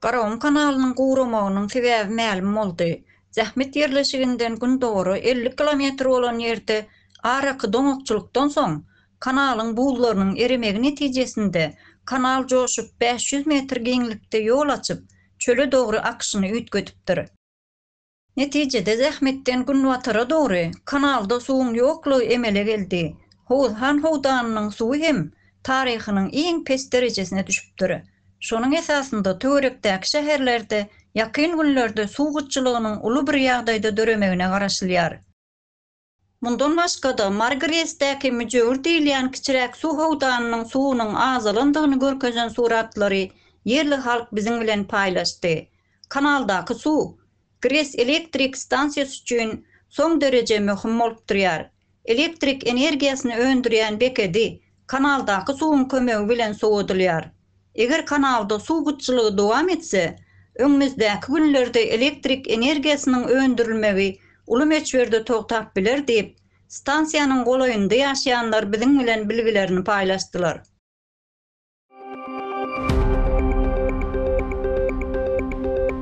Garagyň kanalynyň guramagynyň sebäbi mälim boldy. Zähmet ýerleşiginden gündogara elli kilometr bolan ýerde araky doňakçylykdan soň, kanalyň buzlarynyň eremegi netijesinde, kanal joşup, bäş ýüz metr giňlikde ýol açyp, çöle dogry akyşyny üýtgedipdir. Netijede zähmetden günbatara dogry kanalda suwuň ýoklugy emele geldi. Howuzhan howdanynyň suwy hem taryhynyň iň pes derejesine düşüpdir. Şonuň esasynda töwerekdäki şäherlerde ýakyn günlerde suw gytçylygynyň uly bir ýagdaýda döremegine garaşylýar. Mundan başga-da, Margresdäki müjewür diýilýän kiçiräk suw howdanynyň suwunyň azalandygyny görkezen suratlary ýerli halk biziň bilen paýlaşdy. Kanaldaky suw Gres elektrik stansiýasy üçin soň dereje möhüm bolup durýar. Elektrik energiýasyny öndürýän bekedi kanaldaky suwuň kömegi bilen sowadylýar. Eger kanalda suw gytçylygy dowam etse, öňümizdäki günlerde elektrik energiýasynyň öndürilmegi uly möçberde togtap biler diýip, stansiýanyň golaýynda ýaşaýanlar biziň bilen bilgilerini paýlaşdylar.